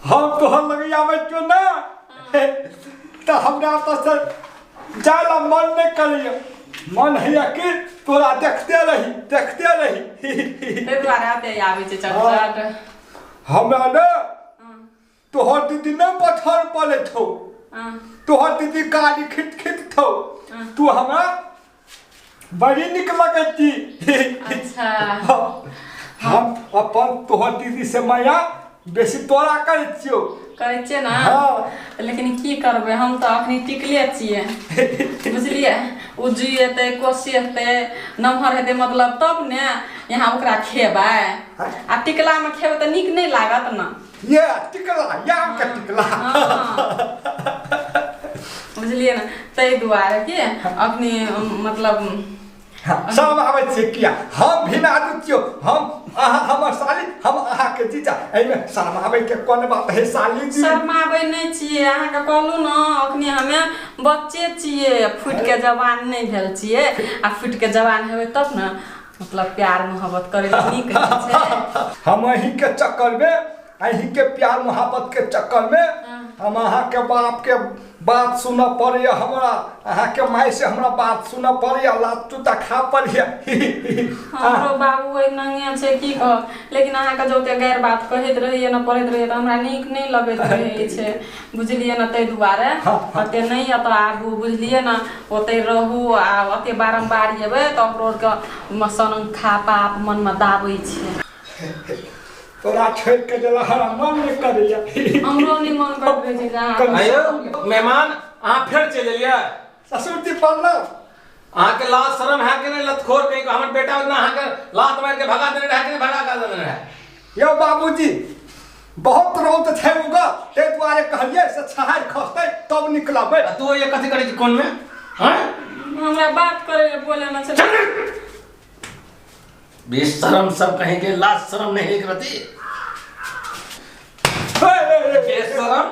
हम तोहर लगे आबै क्यों ना तो हमरा तो सर जाय ला मन नहीं करियो मन है कि तोरा देखते रही देखते रही ताहि दुआरे आबे आबै छै चटचट हमरा ने तोहर दीदी न पत्थर पर ले थो हाँ, तोहर दीदी काली खिट खिट थो हाँ। तू हमरा बड़ी निक लगत थी अच्छा हम अपन तोहर दीदी से माया बेसी तोरा करे छियो करै छियै ने हाँ। लेकिन की करबै हम तऽ अखनी टिकले छियै बुझलियै ओ जुइ एतै कोसी एतै नमहर हेतै मतलब तब ने यहाँ ओकरा खेबै आ टिकलामे खेबै तऽ नीक नहि लागत ने ये टिकला या के टिकला बुझलियै ने ताहि दुआरे कि अपने मतलब सब आबै छियै किया हम भी नाजू छियौ हम अहाँ हमर साली हम अहाँके जीजा एहिमे शरमाबैके कोन बात है साली जी शरमाबै नहि छियै अहाँके कहलहुँ ने अखनी हमे बच्चे छियै फुटिके जवान नहि भेल छियै आ फुटिके जवान हेबै तब ने मतलब प्यार मोहब्बत करे में नीक लगै छै हम अही के चक्कर में अही के प्यार मोहब्बत के चक्कर में हाँ। हम अहा के बाप के बात सुन पड़े हमरा अहा के माई से हमरा बात सुन पड़े लात चुता खा पड़े हमरो बाबू एक नंगे छै की कह लेकिन अहा के जोते गैर बात कहैत रहिए न पढ़ैत रहिए त हमरा नीक नहीं लगैत रहे छै बुझलियै ने ताहि दुआरे हँ, हँ। कते नहि एतऽ आबू बुझलियै ने ओतहि रहू आ एते बारम्बार अयबै तऽ हमरो आरके सनखा पाप मनमे दाबै छै तोरा छोड़ के जला हरा मन नहि करैया हमरो नहि मन करैत रहै छै जे अहाँ कनि- आयो मेहमान अहाँ फेर चलि एलियै ससुर जी प्रणाम अहाँ के लाज शर्म है कि नहीं लतखोर कहीं का हमर बेटा उतना अहाँ के लात मार के भगा देने रहे कि नहीं भगा कर देने रहे यो बाबूजी बहुत रौद छै उगा ते दुआरे कहलिए से छहार खसते तब निकलबे आ तू ये कथी करे छी कोन में हैं हमरा बात करे ले बोले ना चल बेशरम सब कहीं के लाज शर्म नहीं एक रती बेशरम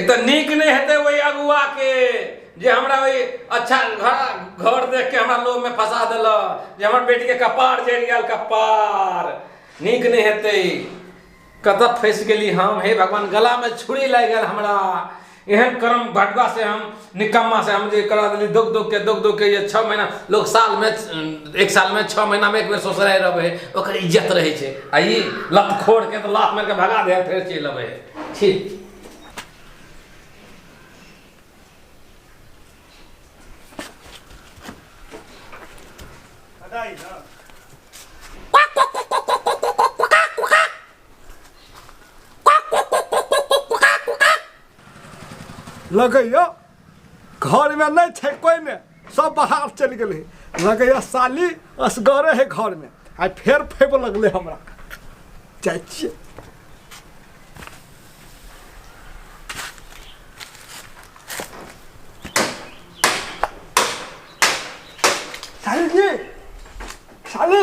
एक तऽ नीक नहि हेतै ओहि अगुआके जे हमरा ओहि अच्छा घर घर देख के हमरा लोभमे फंसा देलक जे हमर बेटीके कपार जरि गेल कपार नीक नहि हेतै कतऽ फँसि गेली हम हे भगवान गलामे छुरी लागि गेल हमरा एहन कर्म बँटबासँ हम निकम्मा से हम जे करा देली दुख दुख के दुख दुख के ये छः महीना लोग साल में एक साल में छः महीना में एक बेर ससुराल रहे ओकर इज्जत रहे छे आ ई लत खोड़ के तो लात मार के भगा दे फिर चलि अबे छी लगैया घरमे नहि छै कोइमे सब बाहर चलि गेलै लगैया साली असगरे है घरमे आइ फेर फैब लगलै हमरा जाइ छियै साली जी साली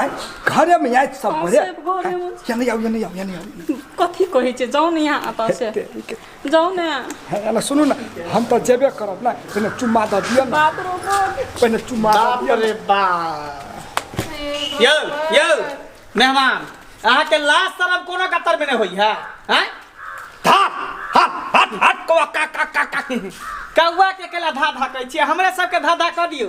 आय घर में आय सब हँ, बोले सब घरे में। या नहीं आओ या नहीं आओ या नहीं आओ कथी कहै छै जाउ ने यहाँ एतऽ से जाउ ने है ना सुनू ना हम तो जेबे करब ना पहले चुम्मा दे दिया ना बाप रो बाप पहले चुम्मा दे बाप दिया रे बाप यौ यौ मेहमान अहाँके लाज शरम कोनो कतर में नहि होई है हैं धा हट हट हट कौआ का का का का कौआ के केला धा धा कहै छियै हमरे सबके धा धा कऽ दियौ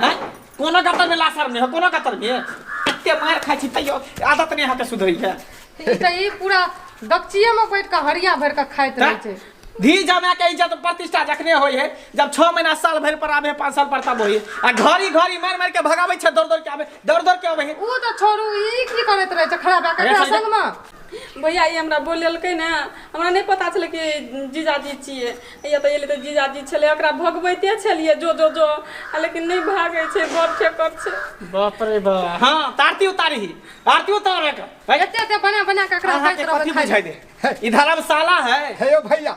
हँ कोनो गतरमे लासर नहि हो कोनो गतरमे एते मार खाइ छी तैयो आदत नहि अहाँके सुधरैया ई तऽ ई पूरा गपचिए में बैठ के हरिया भर के खाइत रहे छै धी जमाय के इज्जत प्रतिष्ठा जखने होई है जब छह महीना साल भर पर आबे पाँच साल पर तब होई है आ घड़ी घड़ी मार मार के भगावे छै दौड़ दौड़ के आबे दौड़ दौड़ के आबे है ऊ तऽ छोड़ू ई की करैत रहे छै खड़ा भए के एकरा संग में भैया ई हमरा बोलेलकै ने हमरा नहि पता छलै कि जीजाजी छियै हैया तऽ एलै तऽ जीजाजी छलै ओकरा भगबैते छलियै जो जो जो आ लेकिन नहि भागै छै बड़ ठेकर छै बाप रे बा हाँ तारती उतारी ही तारती उतार रखा एते एते बना बना के एकरा अहाँ दैत के रहबै कथी खाय बुझाई दे ई धर्मशाला है हे यौ भैया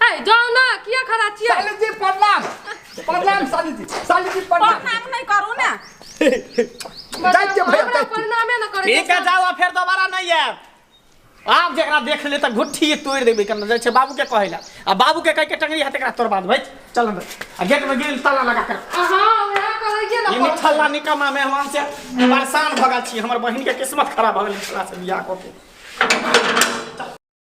ए जाओ ना किया खड़ा छियै साली जी प्रणाम प्रणाम साली जी साली जी प्रणाम प्रणाम नहीं करू ना जाय के भैया हमरा जाय के। प्रणामे न करे ठीक है जाओ फिर दोबारा नहीं आएब आब जेकरा देख ले तऽ घुट्ठी तोड़ि देबै केना जाइ छै बाबूके कहै लए आ बाबूके कहि के टंगरी हाथ एकरा तोड़बा देबै चल अंदर आ गेटमे गेल ताला लगा कर अहाँ वएह करै छियै ई न निठल्ला निकम्मा मेहमान से परेशान भऽ गेल छी हमर बहिनके किस्मत खराब भऽ गेल निठल्ला से बियाह कऽ के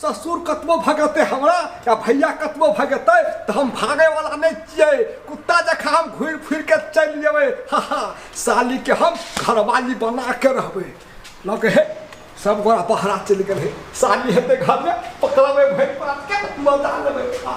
ससुर कतबो भगेतै हमरा या भैया कतबो भगेतै तऽ हम भागैवला नहि छियै कुत्ता जकाँ हम घुरि फुरि कऽ चलि जेबै हा हा सालीके हम घरवाली बना कऽ रहबै लऽ कऽ हे सब गोरा बहरा चलि गेल हे साली हेतै घरमे पकड़बै भरि पातके मजा लेबै हा